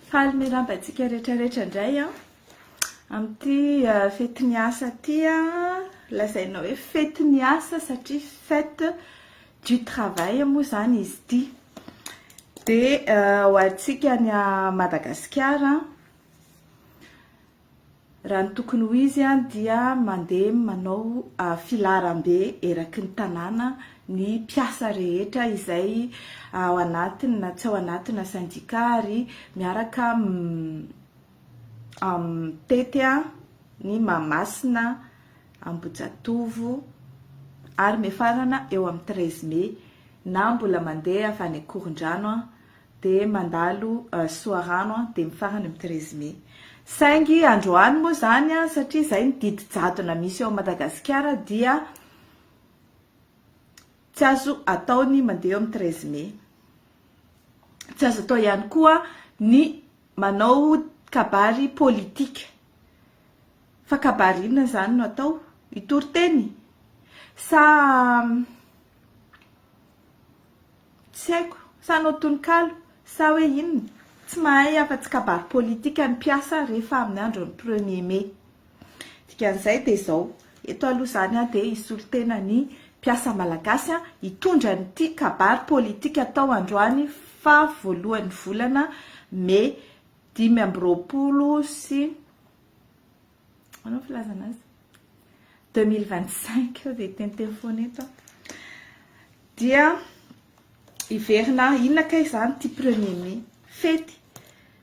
Faly miraba antsika rehetra rehetra indray an! Amin'ity fety ny asa ity an, lazaina hoe fety ny asa satria fête du travail moa izany izy ity. Dia ho antsika any Madagasikara an, Raha ny tokony ho izy dia mandeha manao filaharambe eraky ny tanàna ny mpiasa rehetra izay ao anatiny na tsy ao anatina syndicat ary miaraka mitety ny Mahamasina, Ambohijatovo ary miafarana eo amin'ny treize mai na mbola mandeha avy any Ankorondrano. dia mandalo Soarano an, dia mifarana amin'ny treize mai. Saingy androany moa izany an, satria izay ny didy jadona misy eo Madagasikara dia tsy azo atao ny mandeha eo amin'ny treize mai. Tsy azo atao ihany koa ny manao kabary politika. Fa kabary inona izany no atao? Hitory teny? Sa Tsy haiko, sa hanao tononkalo, sa hoe inona? Tsy mahay afa-tsy kabary politika ny mpiasa rehefa amin'ny andron'ny premier mai. Dikan'izay dia izao, eto aloha izany aho dia hisolo tena ny mpiasa malagasy hitondra an'ity kabary politika atao androany faha voalohan'ny volana mai dimy amby roapolo sy Manao filazana azy. 2025 eo dia teniteny foana eto an. Dia hiverina inona kay izany ity premier mai. Fety.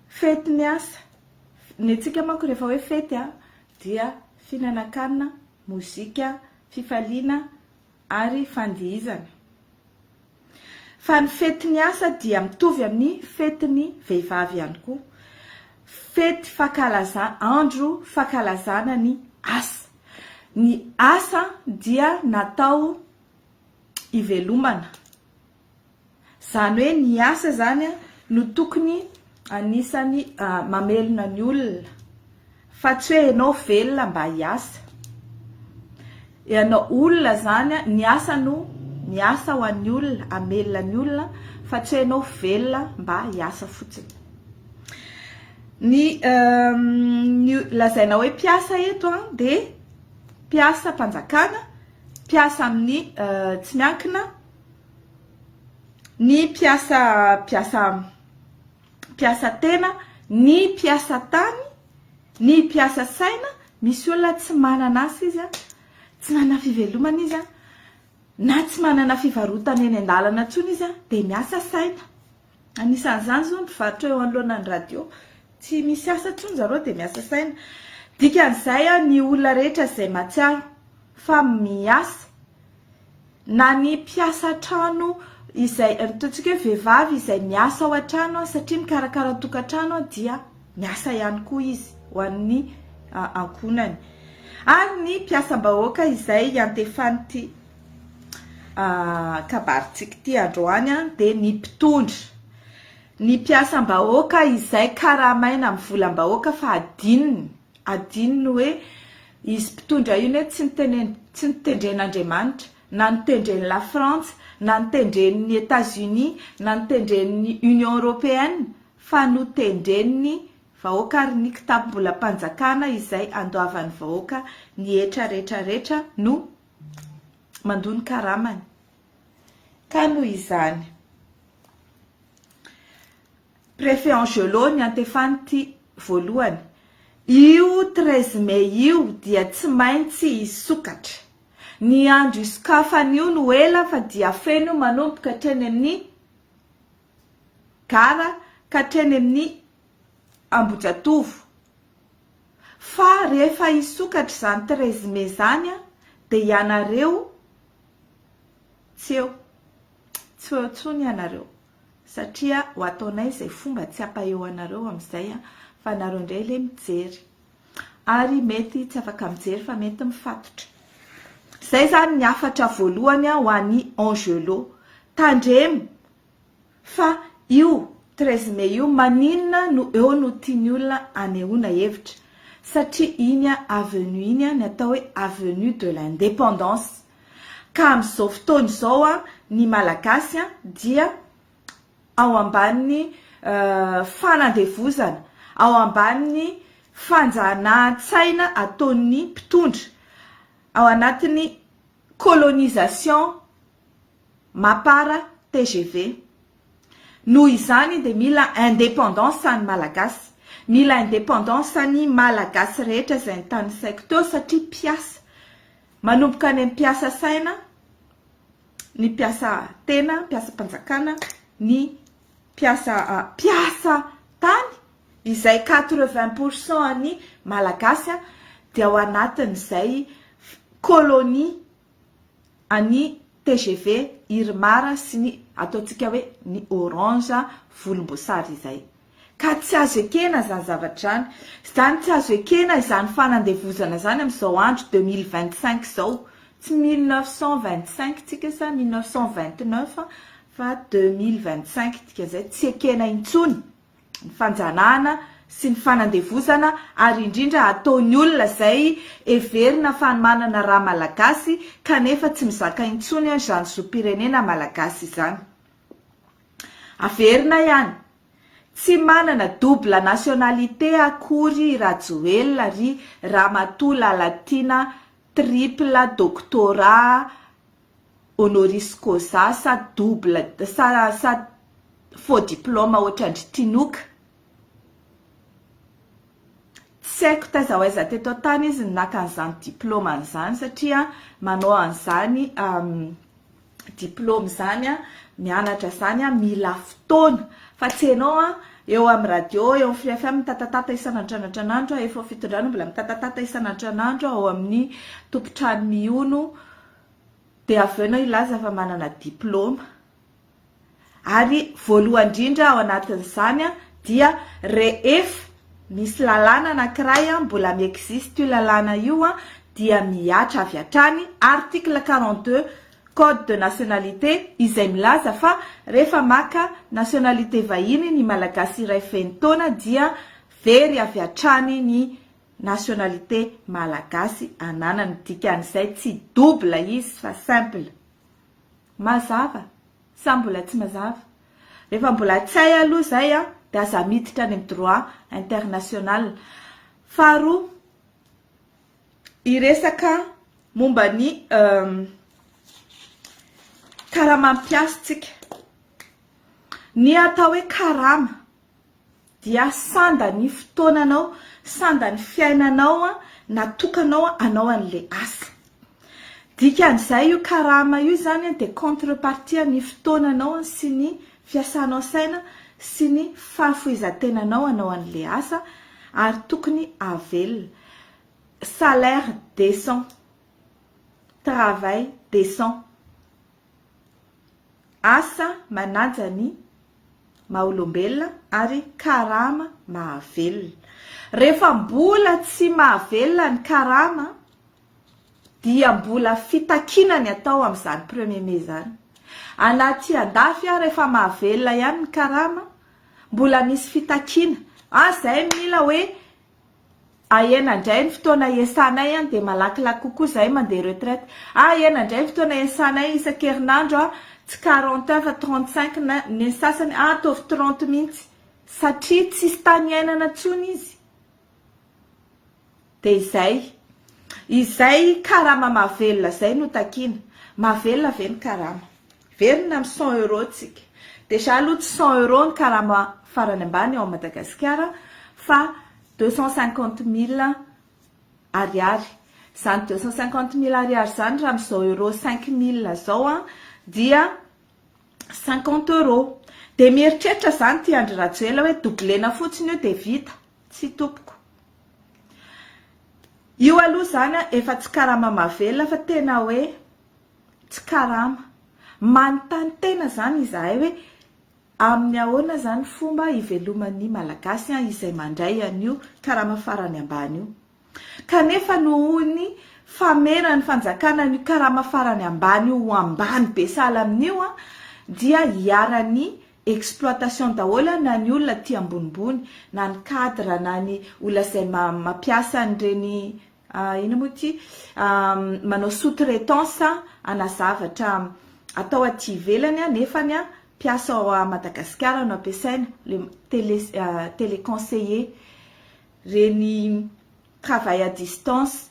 Fety ny asa. Ny antsika manko rehefa hoe fety dia fihinanankanina, mozika, fifaliana, ary fandihizana. Fa ny fetin'ny asa dia mitovy amin'ny fetin'ny vehivavy ihany koa. Fety fankalaza, andro fankalazana ny asa. Ny asa dia natao hivelomana. Izany hoe ny asa izany no tokony anisan'ny mamelona ny olona fa tsy hoe ianao velona mba hiasa. Ianao olona izany, ny asa no miasa ho an'ny olona, hamelona ny olona fa tsy hoe ianao velona mba hiasa fotsiny. Ny lazaina hoe mpiasa eto dia mpiasam-panjakana, mpiasa amin'ny tsy miankina, ny mpiasa mpiasa mpiasa tena, ny mpiasa tany, ny mpiasa saina, misy olona tsy manana asa izy a, tsy manana fivelomana izy a, na tsy manana fivarotana eny an-dalana intsony izy a, dia miasa saina. Anisan'izany izao ny mpivarotra eo anoloanan'ny radio. Tsy misy asa intsony zareo dia miasa saina. Dikan'izay aho ny olona rehetra izay mahatsiaro fa miasa na ny mpiasa an-trano izay ataontsika hoe vehivavy izay miasa ao an-trano satria mikarakara tokantrano dia miasa ihany koa izy ho an'ny ankohonany. Ary ny mpiasam-bahoaka izay iantefan'ity kabarintsika ity androany dia ny mpitondra, ny mpiasam-bahoaka izay karamaina amin'ny volam-bahoaka fa adinony, adinony hoe izy mpitondra io anie tsy nitenen- tsy notendren'Andriamanitra na notendren'i Lafrantsa na notendren'i Etats Unis na notendren'ny Union Européenne fa notendren'ny vahoaka ary ny kitapom-bolam-panjakana izay andoavan'ny vahoaka ny hetra rehetra rehetra no mandoa ny karamany. Ka noho izany, Préfet Angelo niantefan'ity voalohany, io treize mai io dia tsy maintsy hisokatra. Ny andro hisokafany io no ela fa dia feno io manomboka hatreny amin'ny Gara ka hatreny amin'ny Ambohijatovo. Fa rehefa hisokatra izany treize mai izany an, dia ianareo tsy eo. Tsy ho eo intsony ianareo satria ho ataonay izay fomba tsy hampaeo anareo amin'izay an, fa nareo indray ilay mijery. Ary mety tsy afaka mijery fa mety mifatotra. Izay izany ny hafatra voalohany ho an'i Angelo. Tandremo. Fa io treize mai io maninona no eo no tiany olona anehoana hevitra? Satria iny avenue iny ny atao hoe avenue de l'independance. Ka amin'izao fotoana izao ny Malagasy dia ao ambanin'ny fanandevozana, ao ambanin'ny fanjanahan-tsaina ataon'ny mpitondra, ao anatin'ny colonisation. Mapar tgv. Noho izany dia mila indépendance ny Malagasy. Mila indépendance ny Malagasy rehetra izay nitanisaiko teo satria mpiasa. Manomboka any amin'ny mpiasa saina, ny mpiasa tena, mpiasam-panjakana, ny mpiasa mpiasa tany izay quatre vingt pour cent ny Malagasy dia ao anatin'izay colonie. an'ny tgv Irmar sy ny ataontsika hoe ny orange volomboasary izay. Ka tsy azo ekena izany zavatra izany. Izany tsy azo ekena izany fanandevozana izany amin'izao andro deux mille vingt cinq izao. Tsy mille neuf cent vingt cinq tsika sa mille neuf cent vingt neuf fa deux mille vingt cinq dikan'izay tsy ekena intsony. ny fanjanahana sy ny fanandevozana ary indrindra ataon'ny olona izay heverina fa manana ra malagasy kanefa tsy mizaka intsony izany zom-pirenena malagasy izany. Averina ihany, tsy manana double nationalité akory i Rajoelina ry Ramatoa Lalatiana triple doctorat honoris causa sa double sa sa faux diploma ohatrandry Tinoka. Tsy haiko taiza ho aiza teto an-tany izy no naka an'izany diploma izany satria manao an'izany diploma izany mianatra izany mila fotoana fa tsy ianao eo amin'ny radio eo amin'ny Free FM mitatatata isan'andro an'Andriamanitra efa fitondrana mbola mitatatata isan'andro an'Andriamanitra ao amin'ny tompon-trano mihono Dia avy eo ianao hilaza fa manana diplaoma. Ary voalohany indrindra ao anatin'izany dia rehefa misy lalàna anankiray mbola mi-existe io lalàna io dia mihatra avy hatrany article quarante deux code de nationalité izay milaza fa rehefa maka nationalité vahiny ny Malagasy iray feno taona dia very avy hatrany ny Nationalité malagasy ananany dikan'izay tsy double izy fa simple. Mazava sa mbola tsy mazava? Rehefa mbola tsy hay aloha izay an, dia aza miditra any amin'ny droit international. Faharoa, hiresaka momba ny karama ampiasa tsika. Ny atao hoe karama dia sanda ny fotoananao, sanda ny fiainanao natokanao hanao an'ilay asa. Dikan'izay io karama io izany dia contre-partie ny fotoananao sy ny fiasanao saina sy ny fahafoizan-tenanao hanao an'ilay asa ary tokony avelona. Salaire décent, travail décent. asa manaja ny maha-olombelona ary karama mahavelona. Rehefa mbola tsy mahavelona ny karama dia mbola fitakiana ny atao amin'izany premier mai izany. Any aty andafy ary efa mahavelona ihany ny karama, mbola misy fitakiana. An, izay mila hoe Ah ena ndray ny fotoana iesanay an dia malakilaky kokoa zahay mandeha retraite ah ena ndray ny fotoana iesanay isan-kerinandro an tsy quarante heures fa trente cinq na ny sasany ah ataovy trente mihitsy satria tsisy tany iainana tsony izy dia izay izay karama mahavelona zay no takiana mahavelona ve ny karama Miverina amin'ny cent euros tsika. Déjà aloha tsy cent euros ny karama farany ambany ao Madagasikara fa deux cent cinquante mille ariary. Izany deux cent cinquante mille ariary izany raha amin'izao euros cinq mille izao dia cinquante euros. Dia mieritreritra izany ity Andry Rajoela hoe doublena fotsiny io dia vita. Tsia tompoko. Io aloha izany efa tsy karama mahavelona fa tena hoe tsy karama. Manontany tena izany izahay hoe amin'ny ahoana izany fomba hiveloman'ny Malagasy izay mandray an'io karama farany ambany io. Kanefa nohon'ny fameran'ny fanjakana an'io karama farany ambany io ho ambany be sahala amin'io dia iharan'ny exploitation daholo na ny olona aty ambonimbony na ny cadre na ny olona izay mampiasa an'ireny Ah, inona moa ity? Ah, manao sous-traitance ana zavatra atao aty ivelany a, nefany a, mpiasa ao à Madagasikara no ampiasaina, le télé, ah, téléconseiller, reny travail à distance,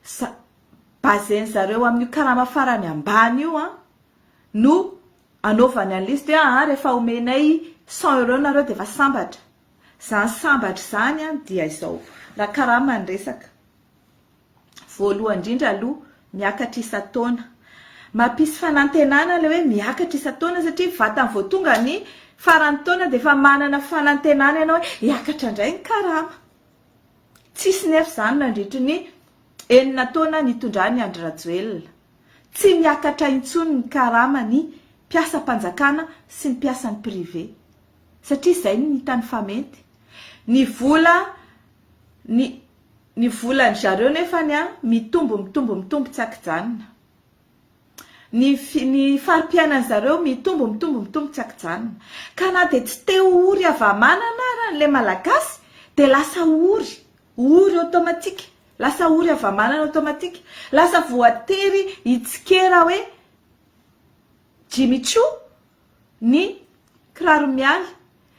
sa- base-n'zareo amin'io karama farany ambany io an, no anaovany an'le izy, dia ah, rehefa omenay cent euros nareo dia efa sambatra. Zany sambatra zany an dia izao, raha karama ny resaka, voalohany indrindra aloha miakatra isan-taona, mampisy fanantenana ilay hoe miakatra isan-taona satria vatany vao tonga ny faran'ny taona dia efa manana fanantenana ianao hoe hiakatra indray ny karama. Tsisy nefa izany nandritry ny enina taona nitondran'i Andry Rajoelina. Tsy miakatra intsony ny karama ny mpiasam-panjakana sy ny mpiasan'ny privé. satria izay no hitany fa mety. Ny vola ny ny volan-dry zareo nefany an, mitombo mitombo mitombo tsy an-kijanona. Ny fi ny fari-piainan'ny zareo mitombo mitombo mitombo tsy an-kijanona. Ka na dia tsy te ho ory hava-manana ara ilay Malagasy dia lasa ory, ory automatique, lasa ory hava-manana automatique. Lasa voatery hitsikera hoe Jimmy Choo. ny kiraro mialy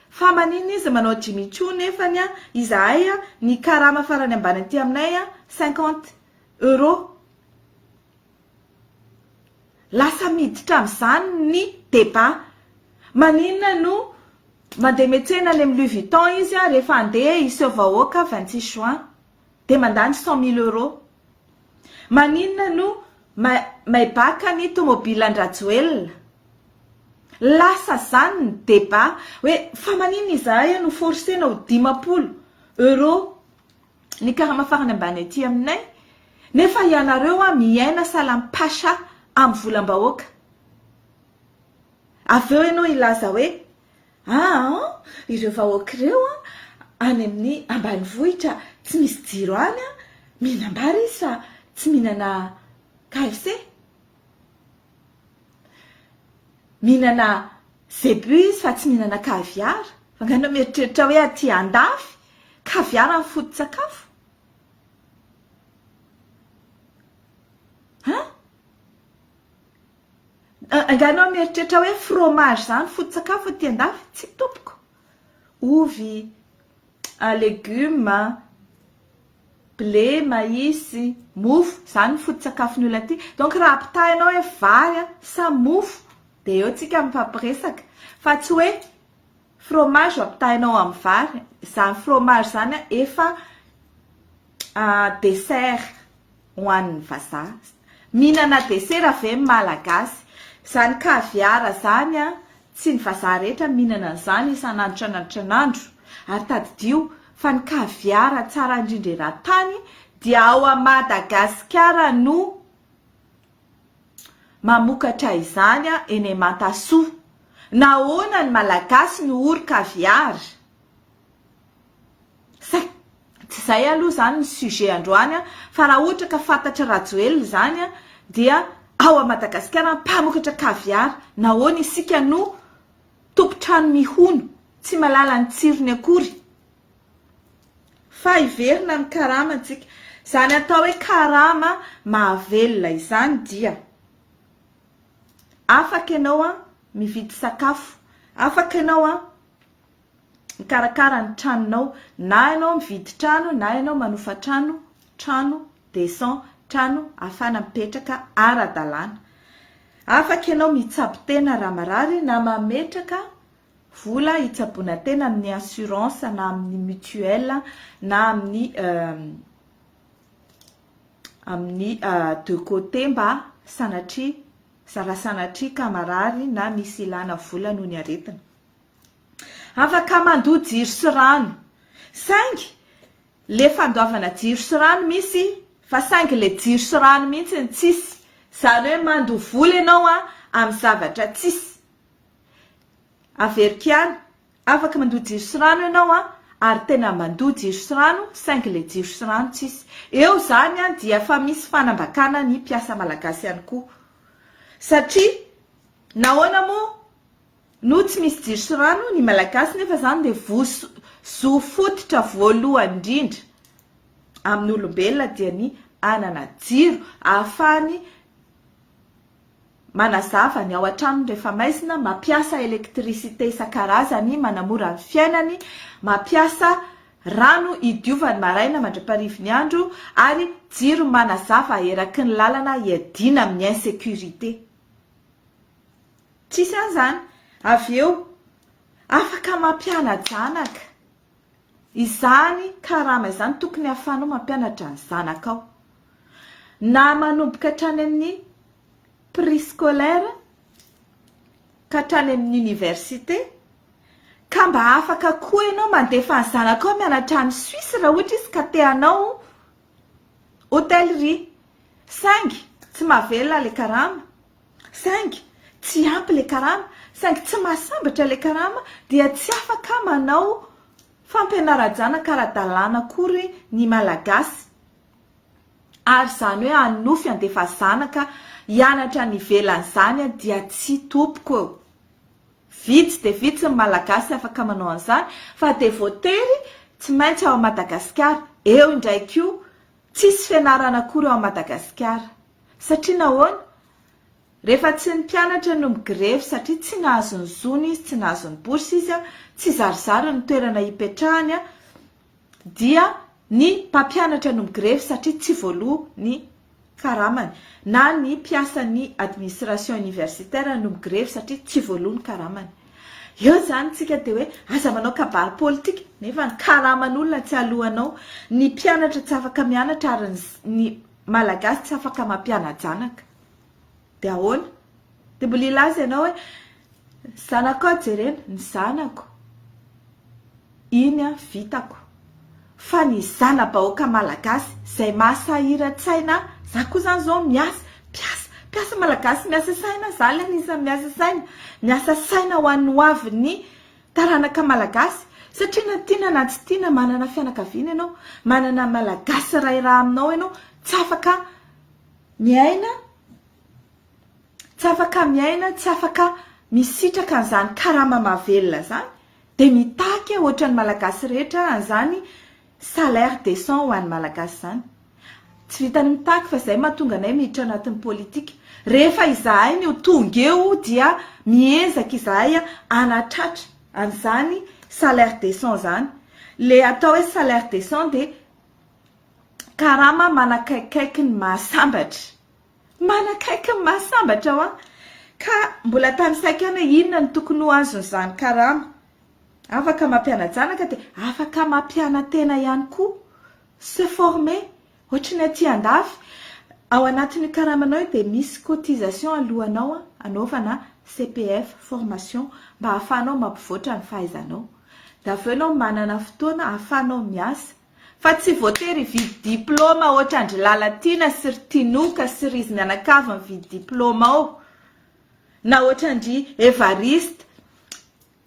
fa manina izy manao Jimmy Choo nefany an izahay an ny karama farany ambany aty aminay an cinquante euro lasa miditra amin'izany ny débat manina no mandeha metsena any amin'ny Louis Vuitton izy an rehefa andeha hiseho vahoaka vingt six juin dia mandany cent mille euros. Maninona no maibaka ny tomobilan-dRajoelina? Lasa zany ny débat hoe fa maninona izahay eo no forcena ho dimampolo euros ny karama farany ambany aty aminay nefa ianareo miaina salampasha amin'ny volam-bahoaka. Avy eo ianao hilaza hoe Aa ireo vahoaka ireo any amin'ny ambanivohitra tsy misy jiro any mihinam-bary izy fa tsy mihinana KFC? Mihinana zebu izy fa tsy mihinana caviar? Angaha ianao mieritreritra hoe aty andafy caviar no foto-tsakafo? An? Angaha ianao mieritreritra hoe fromage izany foto-tsakafo aty an-dafy? Tsia tompoko. Ovy, legioma, blé, maïs, mofo, izany ny foto-tsakafon'ny olona aty. Donc raha ampitaha ianao hoe vary sa mofo dia eo isika mifampiresaka fa tsy hoe Fromage ampitahainao amin'ny vary, izany fromage izany efa dessert ho an'ny vazaha. Mihinana desera ve ny Malagasy? Izany caviar izany, tsy ny vazaha rehetra mihinana an'izany isan'andro tranandro tranandro. Ary tadidio fa ny caviar tsara indrindra eran-tany dia ao Madagasikara no Mamokatra izany eny Imatasoa. Nahoana ny Malagasy no ory caviar? Sa tsy izay aloha izany ny sujet androany fa raha ohatra ka fantatr'i Rajoelina izany dia ao à Madagasikara mpamokatra caviar nahoana isika no tompon-trano mihono tsy mahalala ny tsirony akory? Fa hiverina ny karamantsika. Izany atao hoe karama mahavelona izany dia afaka ianao mividy sakafo, afaka ianao mikarakara ny tranonao, na ianao mividy trano na ianao manofa trano, trano decent, trano ahafahana mipetraka ara-dalàna. Afaka ianao mitsabo tena raha marary na mametraka vola hitsaboana tena amin'ny assurance na amin'ny mutuelle na amin'ny amin'ny de côté mba sanatria zara sanatria ka marary na misy ilana vola noho ny aretina. Afaka mandoa jiro sy rano saingy le fandoavana jiro sy rano misy fa saingy le jiro sy rano mihitsy ny tsisy. Izany hoe mandoa vola ianao amin'ny zavatra tsisy. Averiko ihany, afaka mandoa jiro sy rano ianao an! ary tena mandoa jiro sy rano saingy ilay jiro sy rano tsisy. Eo izany dia efa misy fanambakana ny mpiasa malagasy ihany koa. Satria nahoana moa no tsy misy jiro sy rano ny malagasy nefa izany dia voso- zo fototra voalohany indrindra amin'ny olombelona dia ny hanana jiro ahafahany manazava ny ao an-tranony rehefa maizina, mampiasa électricité isan-karazany manamora ny fiainany, mampiasa rano hidiovany maraina mandra-parivin'ny andro ary jiro manazava eraky ny lalana hiadiana amin'ny insécurité. Tsisy an'izany. Avy eo, afaka mampiana-janaka. Izany karama izany tokony ahafahanao mampianatra ny zanakao na manomboka hatrany amin'ny prescolaire ka hatrany amin'ny université ka mba afaka koa ianao mandefa ny zanakao mianatra any Suisse raha ohatra izy ka te hanao hôtellerie saingy tsy mahavelona ilay karama. Saingy tsy ampy ilay karama, saingy tsy mahasambatra ilay karama dia tsy afaka manao fampianara-janaka ara-dalàna akory ny Malagasy. Ary izany hoe hanonofy handefa zanaka hianatra any ivelany izany dia tsy topoko eo. Vitsy dia vitsy ny Malagasy afaka manao an'izany fa dia voatery tsy maintsy ao Madagasikara. Eo indray koa, tsisy fianarana akory ao Madagasikara. Satria nahoana? Rehefa tsy ny mpianatra no migrevy satria tsy nahazo ny zony izy, tsy nahazo ny bourse izy, tsy zarizary ny toerana hipetrahany, dia ny mpampianatra no migrevy satria tsy voaloa ny karamany, na ny mpiasan'ny administration universitaire no migrevy satria tsy voaloa ny karamany. Eo izany isika dia hoe aza manao kabary politika nefa ny karaman'olona tsy aloanao, ny mpianatra tsy afaka mianatra ary ny Malagasy tsy afaka mampiana-janaka. Dia ahoana? Dia mbola hilaza ianao hoe zanakao aho jerena, ny zanako, iny an, vitako. Fa ny zana-bahoaka malagasy izay mahasahiran-tsaina ahy, za koa izany izao miasa, mpiasa, mpiasa malagasy miasa saina, za ilay anisan'ny miasa saina, miasa saina ho an'ny hoavin'ny Taranaka Malagasy, satria na tiana na tsy tiana manana fianakaviana ianao, manana Malagasy ray rà aminao ianao, tsy afaka miaina, tsy afaka miaina, tsy afaka misitraka an'izany karama mahavelona izany, dia mitaky ohatran'ny Malagasy rehetra an'izany Salaire decent ho an'ny Malagasy izany. Tsy vitan'ny mitaky fa izay mahatonga anay miditra anatin'ny politika. Rehefa izahay ny ho tonga eo dia miezaka izahay hanatratra an'izany salaire decent izany. Ilay atao hoe salaire decent dia karama manakaikikaiky ny mahasambatra. Manakaiky ny mahasambatra hoa! Ka mbola tanisaiko ihany hoe inona no tokony ho azon'izany karama. Afaka mampiana-janaka dia afaka mampiana-tena ihany koa. Se former, ohatry ny aty andafy, ao anatin'io karamanao io dia misy cotisation alohanao anaovana CPF, formation, mba ahafahanao mampivoatra ny fahaizanao. Dia avy eo ianao manana fotoana ahafahanao miasa. Fa tsy voatery hividy diplaoma ohatry an-dry Lalatiana sy ry Tinoka sy ry izy mianakavy mividy diplaoma ao, na ohatry an-dry Evariste,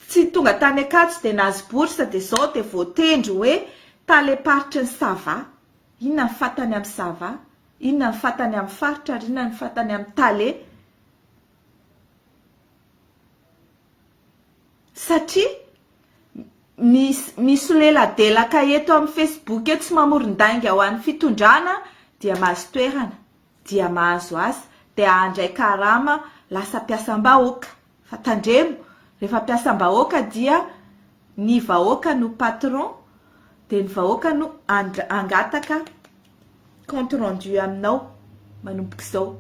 Tsy tonga tany Ankatso dia nahazo bourse dia zao dia voatendry hoe tale paritry ny Sava. Inona ny fatany amin'ny Sava? Inona ny fatany amin'ny faritra ary inona ny fatany amin'ny tale? Satria misy misoleladelaka eto amin'ny Facebook eto sy mamoron-dainga ho an'ny fitondrana dia mahazo toerana. dia mahazo asa dia handray karama lasa mpiasam-bahoaka fa tandremo rehefa mpiasam-bahoaka dia ny vahoaka no patron dia ny vahoaka no hangataka compte rendu aminao manomboka izao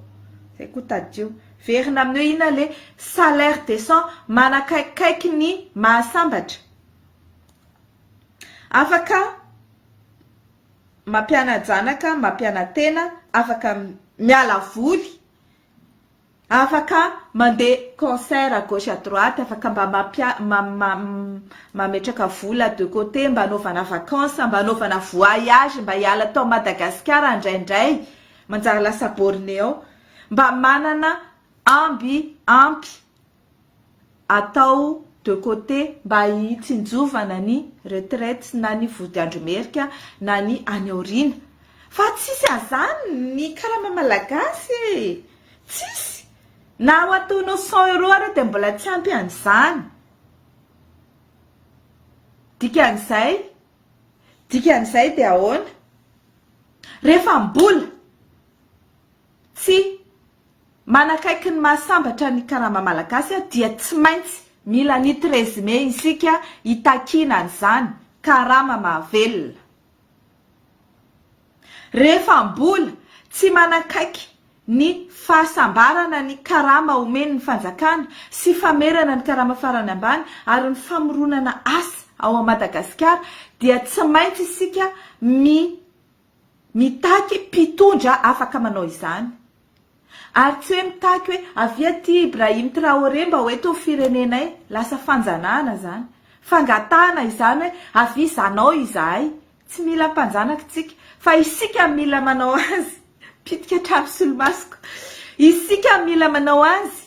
zay koa tadidio verina amin'ny hoe inona le salaire décent manakaikaiky ny mahasambatra afaka mampiana-janaka, mampiana-tena, afaka miala voly, afaka mandeha concert à gauche à droite, afaka mba mametraka vola de côté mba anaovana vacances, mba anaovana voyage mba hiala tao Madagasikara indraindray, manjary lasa borné ao, mba manana amby ampy. atao de côté mba hitsinjovana ny retraite na ny vodiandro merika na ny any aoriana fa tsisy azany ny karama malagasy e! tsisy na ho ataonao cent euro ary dia mbola tsy ampy an'izany dikan'izay dikan'izay dia ahoana rehefa mbola Tsy. Manakaiky ny maha sambatra ny karama malagasy aho dia tsy maintsy mila ny treize mai isika hitakiana an'izany karama mahavelona. Rehefa mbola tsy manakaiky ny fahasambarana ny karama omen'ny fanjakana sy famerana ny karama farany ambany ary ny famoronana asa ao Madagasikara dia tsy maintsy isika mi Mitaky mpitondra afaka manao izany. Ary tsy hoe mitaky hoe avia aty Ibrahim Traoré mba ho eto ny firenenay, lasa fanjanahana izany. Fangatahana izany hoe avia izanao izahay. Tsy mila mpanjanaka isika. Fa isika mila manao azy. Mpitika trano solomaso koa. Isika mila manao azy.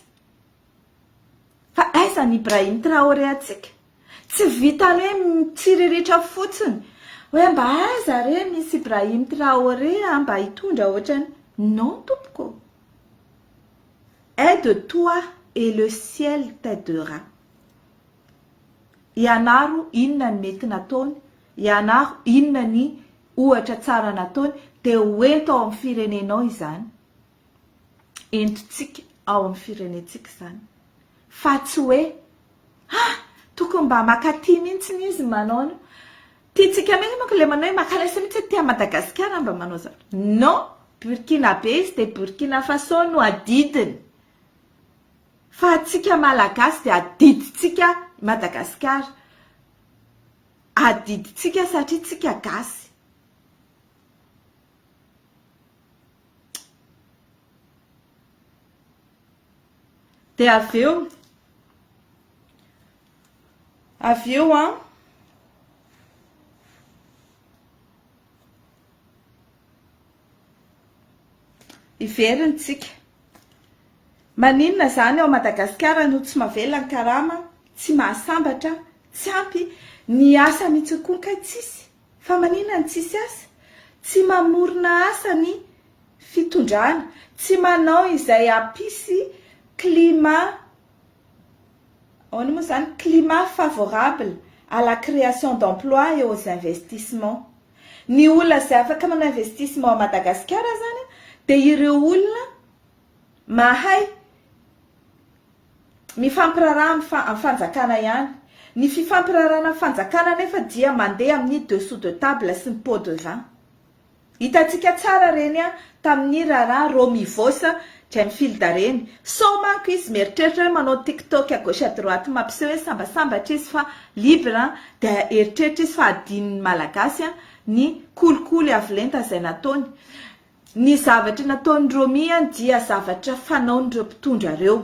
Fa aiza ny Ibrahim Traoré antsika? Tsy vita re mitsiriritra fotsiny hoe mba aiza re misy Ibrahim Traoré ah, mba hitondra ohatrany. Non tompoko. Aide toi et le ciel t'aidera. Ianaro inona ny mety nataony, ianaro inona ny ohatra tsara nataony dia ho ento ao amin'ny firenenao izany. entontsika ao amin'ny firenentsika izany fa tsy hoe ha tokony mba makaty mihitsy izy manao an'io tiantsika mihitsy manko ilay manao hoe makalesa mihitsy aty Madagasikara mba manao izany non Burkina be izy dia Burkina Faso no adidiny fa atsika malagasy dia adidintsika Madagasikara adidintsika satria tsika gasy Dia avy eo, avy eo an, hiverina isika. Maninona izany ao Madagasikara no tsy mavelona ny karama, tsy mahasambatra, tsy ampy, ny asa mihitsy koa kay tsisy. Fa manina ny tsisy asa? Tsy mamorona asa ny fitondrana, tsy manao izay hampisy climat, ahoana moa izany, climat favorable à la création d'emploi et aux investissements. Ny olona izay afaka manao investissement ao Madagasikara izany dia ireo olona mahay mifampiraharaha amin'ny amin'ny fanjakana ihany. Ny fifampiraharahana amin'ny fanjakana anefa dia mandeha amin'ny dessous de table sy ny pot de vin. Hitantsika tsara ireny tamin'ny raharaha Romivos Djemfield ireny. Sao manko izy mieritreritra hoe manao tiktok à gauche à droite mampiseho hoe sambasambatra izy fa libre dia eritreritra izy fa adinon'ny Malagasy ny kolikoly avo lenta izay nataony. Ny zavatra nataon'i Romy dia zavatra fanaon'ireo mpitondra ireo.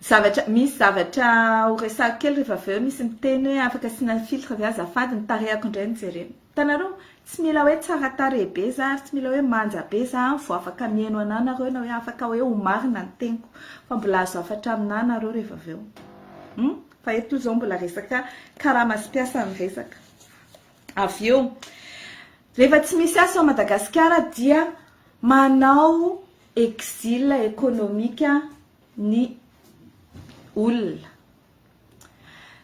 Zavatra, misy zavatra ho resahiko kely rehefa avy eo misy miteny hoe afaka asiana filtre ve azafady ny tarehako indray no jerena. Hitanareo? Tsy mila hoe tsara tarehy be za ary tsy mila hoe manja be za vao afaka mihaino anà nareo na hoe afaka hoe ho marina ny teniko fa mbola azo hafatra aminà nareo rehefa avy eo. Fa eto izao mbola resaka karama sy mpiasa no resaka. Avy eo, rehefa tsy misy asa ao Madagasikara dia manao exil ekonomika ny olona.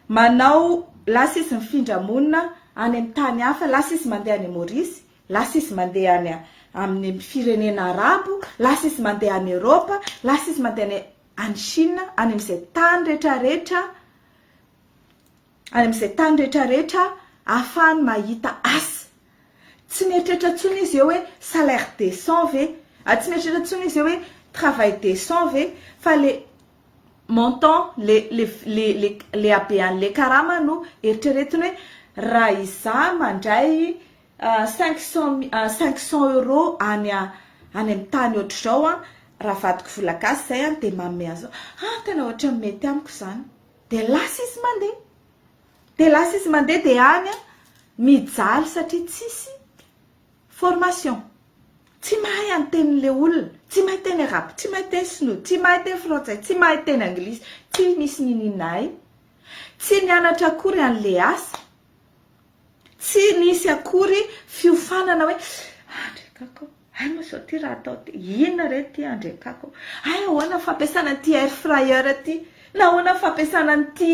Manao lasa izy mifindra monina any amin'ny tany hafa, lasa izy mandeha any Maurice, lasa izy mandeha any amin'ny firenena arabo, lasa izy mandeha any Europe, lasa izy mandeha any any Chine, any amin'izay tany rehetrarehetra, any amin'izay tany rehetrarehetra ahafahany mahita asa. Tsy mieritreritra intsony izy eo hoe salaire décent ve, tsy mieritreritra intsony izy eo hoe travail décent ve fa le montant, le le le le le habean'le karama no eritreretiny hoe raha izaho mandray Cinq cent cinq cent euro any any am tany otrzao an raha vadiko vola gasy zay an de manome anzao an tena otrany mety amiko zany de lasa izy mande de lasa izy mande de any an mijaly satria tsisy formation tsy mahay any teny le olona tsy mahay teny arabo tsy mahay teny sinoa tsy mahay teny frantsay tsy mahay teny anglisy tsy misy nininay tsy nianatra akory any le asa Tsy nisy akory fiofanana hoe Andry Kako, hay moa sao ty raha atao ty, inona re ty Andry Kako, hay ahoana ny fampiasana an'ity air fryer ty, na ahoana ny fampiasana an'ity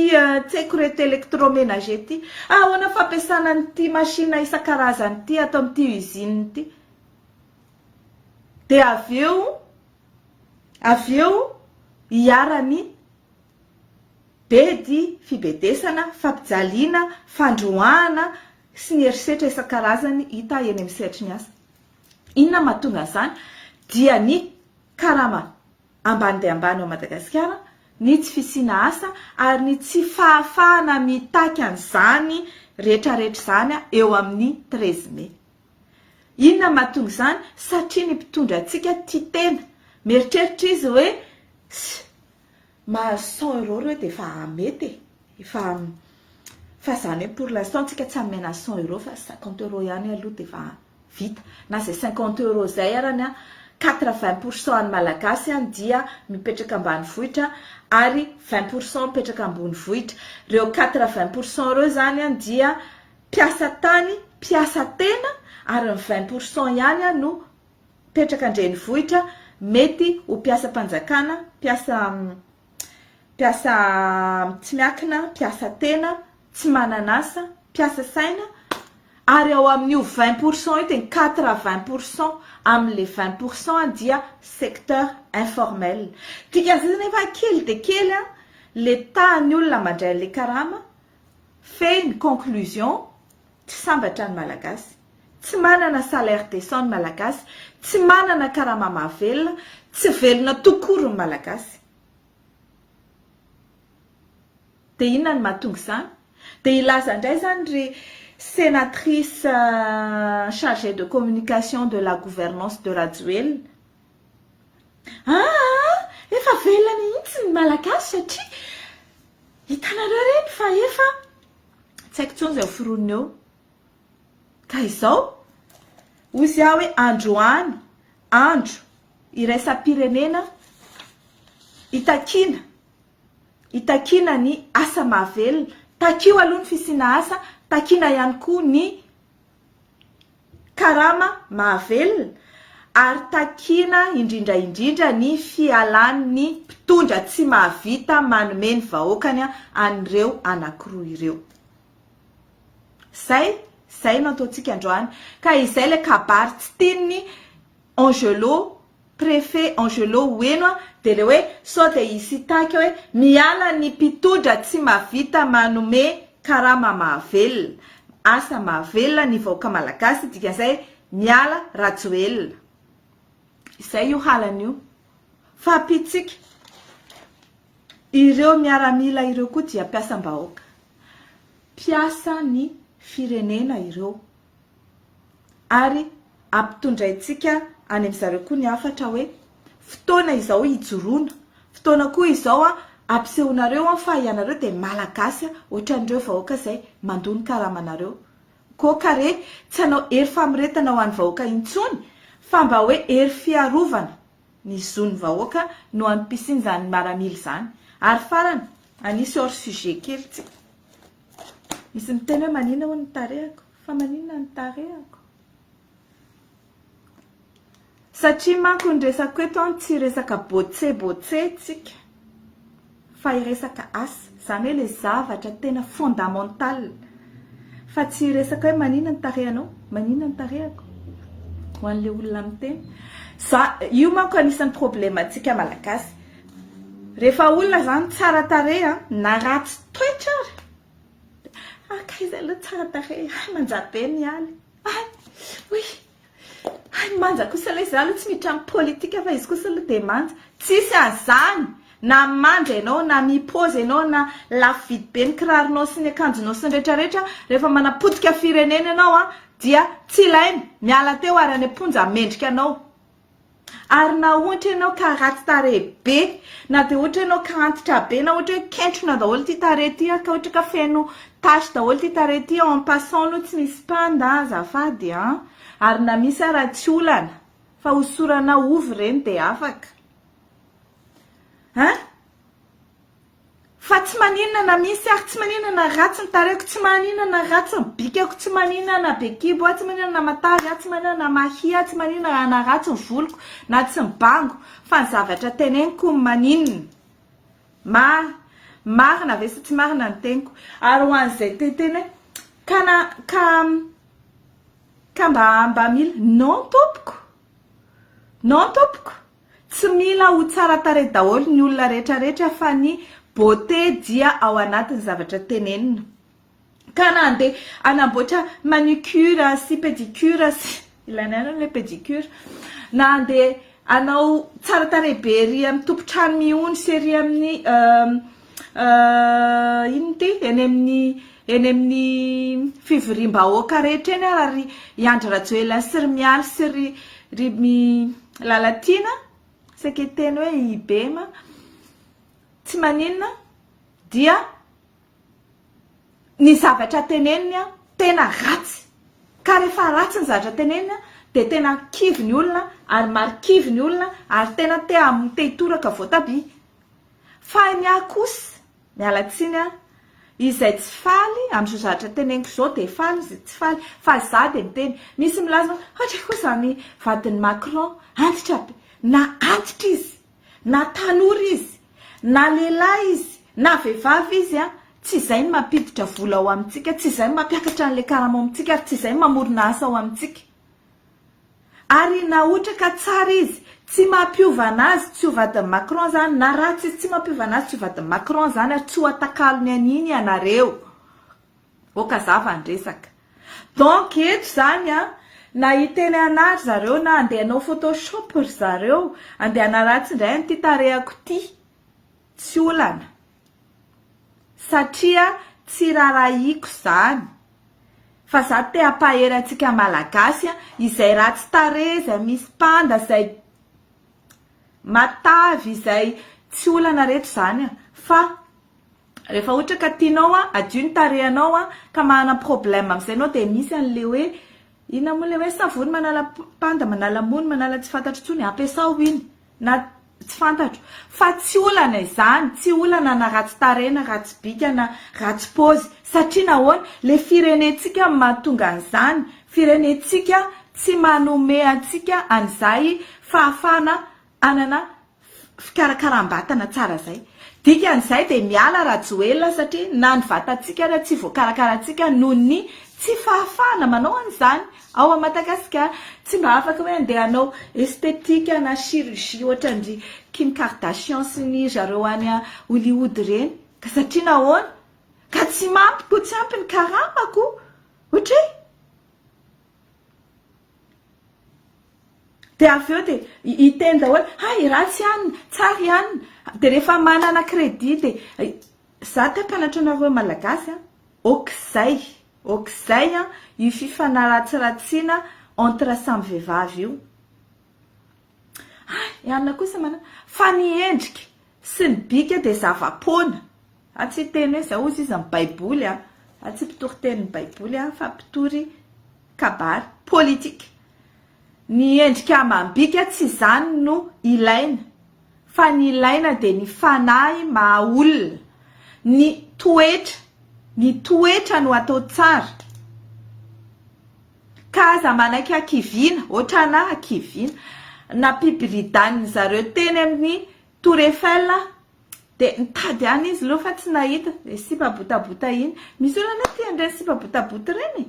tseko ireto electroménager ity, ahoana ny fampiasana an'ity machine isan-karazany ity ato amin'ity usine ity. Dia avy eo, avy eo iharan'ny. bedy, fibedesana, fampijaliana, fandroahana sy ny herisetra isan-karazany hita eny amin'ny sehatry ny asa. Inona no mahatonga an'izany? Dia ny karama ambany dia ambany ao Madagasikara, ny tsy fisiana asa ary ny tsy fahafahana mitaky an'izany rehetrarehetra izany eo amin'ny treize mai. Inona no mahatonga izany? Satria ny mpitondra antsika tia tena, mieritreritra izy hoe, mahazo cent euros ireo dia efa mety e, efa fa izany hoe pour l'instant tsika tsy hamena cent euros fa cinquante euros ihany aloha dia efa vita, na izay cinquante euros izay arany an, quatre vingt pour cent an'ny malagasy an dia mipetraka ambanivohitra ary vingt pour cent mipetraka ambonivohitra, ireo quatre vingt pour cent ireo izany an dia mpiasa tany, mpiasa tena ary ny vingt pour cent ihany an no mipetraka an-drenivohitra mety ho mpiasam-panjakana, mpiasa mpiasa tsy miankina, mpiasa tena, tsy manan'asa, mpiasa saina, ary ao amin'io vingt pour cent io dia ny quatre vingt pour cent amin'ilay vingt pour cent dia secteur informel. Dikan'izay zany efa kely dia kely ilay tahan'ny olona mandray an'ilay karama Fehiny ny conclusion, tsy sambatra ny Malagasy. Tsy manana salaire decent ny Malagasy, tsy manana karama mahavelona, tsy velona tout court ny Malagasy. Dia inona no mahatonga izany? Dia hilaza indray izany ry senatrice chargée de communication de la gouvernance de Rajoelina Aa! Efa velona mihitsy ny Malagasy satria hitanareo re ny fa efa tsy haiko intsony izay ho foronina eo. Ka izao, hozy aho hoe androany andro iraisam-pirenena itakiana, itakiana ny asa mahavelona. Takio aloha ny fisiana asa, takiana ihany koa ny. karama mahavelona ary takiana indrindra indrindra ny fialan'ny mpitondra tsy mahavita manome ny vahoakany an'ireo anankiroa ireo. Zay, zay no ataontsika androany ka izay ilay kabary tsy tian'ny Angelo Préfet Angelo Ueno a, dia le hoe sao dia i Sitake hoe miala ny mpitodra tsy mavita manome karama mahavelona, asa mahavelona ny vahoaka malagasy, dikan'izay miala Rajoelina. Izay io halany io. Fa pitsika. Ireo miaramila ireo koa dia mpiasam-bahoaka. Mpiasa ny firenena ireo. ary ampitondraintsika any amin-dry zareo koa ny hafatra hoe fotoana izao hijoroana, fotoana koa izao hampisehoanareo fa ianareo dia Malagasy ohatran'ireo vahoaka izay mandoa ny karamanareo. Koa ka re tsy hanao hery famoretana ho an'ny vahoaka intsony fa mba hoe hery fiarovana ny zon'ny vahoaka no antom-pisian'izany maramila izany. Ary farany, hanisy hors sujet kely tsika. Misy miteny hoe manina hono ny tarehako. Fa maninona ny tarehako? Satria manko ny resako eto an tsy resaka botse botse tsika fa iresaka asa zany hoe le zavatra tena fondamental fa tsy iresaka hoe maninona ny tarehanao? Maninona ny tarehako? Ho anle olona miteny za io manko anisany probleme antsika malagasy refa olona zany tsara tarehy an na ratsy toetra ary Haka izay aloha tsara tarehy. Hay manja be ny aly. Hay! Oui! Hay manja kosa ilay izaho aloha tsy miditra amin'ny politika fa izy kosa aloha dia manja. Tsisy an'izany! Na manja ianao, na mi-pose ianao, na lafo vidy be ny kiraronao sy ny akanjonao sy ny rehetrarehetra, rehefa manapotika firenena ianao dia tsy ilaina! Miala teo ary any am-ponja mendrika anao. Ary na ohatra ianao ka ratsy tarehy be, na dia ohatra ianao ka antitra be, na ohatra hoe kentrona daholo ity tarehy ity, ka ohatra ka feno tache daholo ity tarehy ity, en passant aloha tsy misy panda azafady an! Ary na misy ara tsy olana fa hosorana ovy ireny dia afaka. An! Fa tsy maninona na misy ary tsy maninona na ratsy ny tarehiko, tsy maninona na ratsy ny bikako, tsy maninona na be kibo aho, tsy maninona na matavy aho, tsy maninona na mahia aho, tsy maninona na ratsy ny voloko na tsy mibango fa ny zavatra teneniko ny maninona. Ma, marina ve sa tsy marina ny teniko? Ary ho an'izay te hiteny hoe ka na, ka, ka mba, mba mila, non tompoko, non tompoko, Tsy mila ho tsara tarehy daholo ny olona rehetra rehetra fa ny beauté dia ao anatin'ny zavatra tenenina. Ka na andeha hanamboatra manucure sy pedicure sy ilaina ihany ilay pedicure, na andeha hanao tsara tarehy be ery amin'ny tompon-trano mihony sy ery amin'ny Euh, inona ity? Eny amin'ny eny amin'ny fivoriam-bahoaka rehetra eny ara ry i Andry Rajoelina sy ry Mialy sy ry ry mi Lalatiana saika hiteny hoe i Bema tsy maninona dia ny zavatra teneniny a tena ratsy ka rehefa ratsy ny zavatra teneniny a dia tena kivy ny olona ary marikivy ny olona ary tena te hamotehitoraka voatabia Fa ny ahy kosa, miala tsiny an, izay tsy faly amin'izao zavatra teneniko izao dia faly izy tsy faly fa za dia miteny, misy milaza hoe ohatra koa izany vadin'i Macron, antitra be, na antitra izy, na tanora izy, na lehilahy izy, na vehivavy izy an, tsy izay no mampiditra vola ao amintsika, tsy izay no mampiakatra an'ilay karama ao amintsika ary tsy izay no mamorona asa ao amintsika. Ary na ohatra ka tsara izy, tsy mampiova anazy tsy ho vadin'i Macron zany, na ratsy izy tsy mampiova anazy tsy ho vadin'i Macron zany ary tsy ho atakalony an'iny ianareo. Oka zava ny resaka. Donc eto zany an, na hiteny anah ry zareo na andeha hanao photoshop ry zareo, andeha hanaratsy indray an'ity tarehako ity, tsy olana. Satria tsy rarahiako izany. Fa za te hampahery antsika malagasy a, izay ratsy tarehy, izay misy panda, izay matavy, izay tsy olana reto zany a. Fa rehefa ohatra ka tianao hadio ny tarehinao ka manana problème amin'izay ianao dia misy an'ilay hoe Inona moa ilay hoe savony manala panda, manala mony, manala tsy fantatro intsony, ampiasao iny na tsy fantatro fa tsy olana izany, tsy olana na ratsy tarehy na ratsy bika na ratsy paozy satria nahoana, ilay firenentsika no mahatonga an'izany, firenentsika tsy manome antsika an'izay fahafahana Hanana fikarakaram-batana tsara izay. Dikan'izay dia miala Rajoelina satria na ny vatantsika ary tsy voakarakarantsika noho ny tsy fahafahana manao an'izany ao Madagasikara. Tsy mba afaka hoe handeha hanao esthétique na chirurgie ohatran'dry Kim Kardashian sy ny zareo any Hollywood ireny. Ka satria nahoana? Ka tsy mampy ko tsy ampy ny karama ko. Ohatry. Dia avy eo dia hiteny daholo, hay ratsy ihany, tsara ihany, dia rehefa manana crédit dia, za te hampianatra anareo Malagasy an, ok'izay, ok'izay an, io fifanaratsiratsiana entre samy vehivavy io, hay i Anona kosa manana, fa ny endrika sy ny bika dia zava-poana, A Tsy hiteny hoe izao hozy izy amin'ny Baiboly aho. A Tsy mpitory tenin'ny Baiboly aho fa mpitory kabary politika. Ny endrika amam-bika tsy izany no ilaina fa ny ilaina dia ny fanahy maha olona, ny toetra, ny toetra no atao tsara. Ka aza manaiky hakiviana, hoatran'ahy hakiviana, nampibiridàn'ny zareo teny amin'ny Tour Eiffel aho Dia nitady any izy leo fa tsy nahita. Ilay sipa botabota iny. Misy olona anie tia an'ireny sipa botabota ireny e.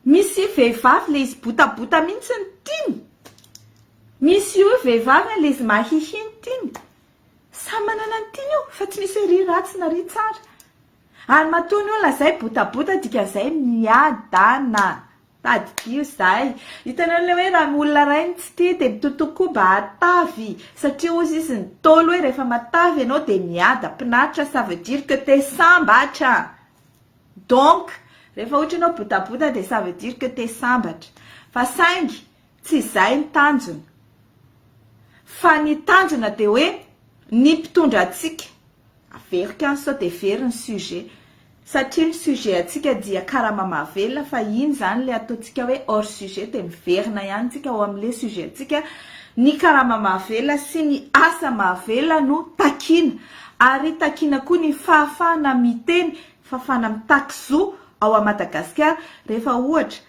Misy vehivavy ilay izy botabota mihitsy ny tiany. Misy io vehivavy ilay izy mahihy ny tiany. Samy manana ny tiany io fa tsy misy hoe ry ratsy na ry tsara. Ary matoa ny olona zay botabota dikan'izay miadana. Tadidio zay. Hitanareo le hoe raha olona ray no tsy tia dia mitotoa koa mba hatavy satria hozy izy ny Ntaolo hoe rehefa matavy ianao dia miadam-pinaritra ça veut dire que te sambatra. Donc rehefa ohatra ianao botabota dia ça veut dire que te sambatra. Fa saingy tsy izay ny tanjona. Fa ny tanjona dia hoe ny mpitondra antsika. Averiko ihany sao dia very ny sujet. Satria ny sujet antsika dia karama mahavelona fa iny izany ilay ataontsika hoe hors sujet dia miverina ihany tsika ao amin'ilay sujet antsika. Ny karama mahavelona sy ny asa mahavelona no takiana. Ary takiana koa ny fahafahana miteny, fahafahana mitaky zo ao Madagasikara. Rehefa ohatra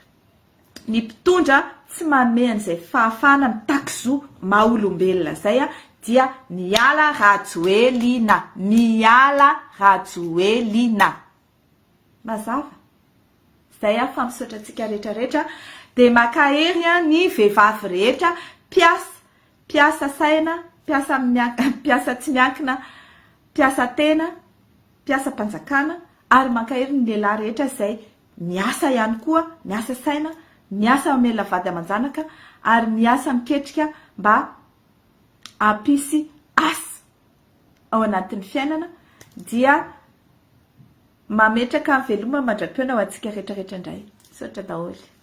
ny mpitondra tsy manome an'izay fahafahana mitaky zo maha olombelona izay dia miala Rajoelina! Miala Rajoelina! Mazava? Izay fa misaotra antsika rehetra rehetra dia makahery ny vehivavy rehetra mpiasa mpiasa saina mpiasa mpiasa tsy miankina mpiasa tena mpiasam-panjakana ary mankahery ny lehilahy rehetra izay Miasa ihany koa, miasa saina, miasa mamelona vady aman-janaka ary miasa miketrika mba hampisy asa ao anatin'ny fiainana dia mametraka veloma mandra-pihaona ho antsika rehetra rehetra indray. Misaotra daholo.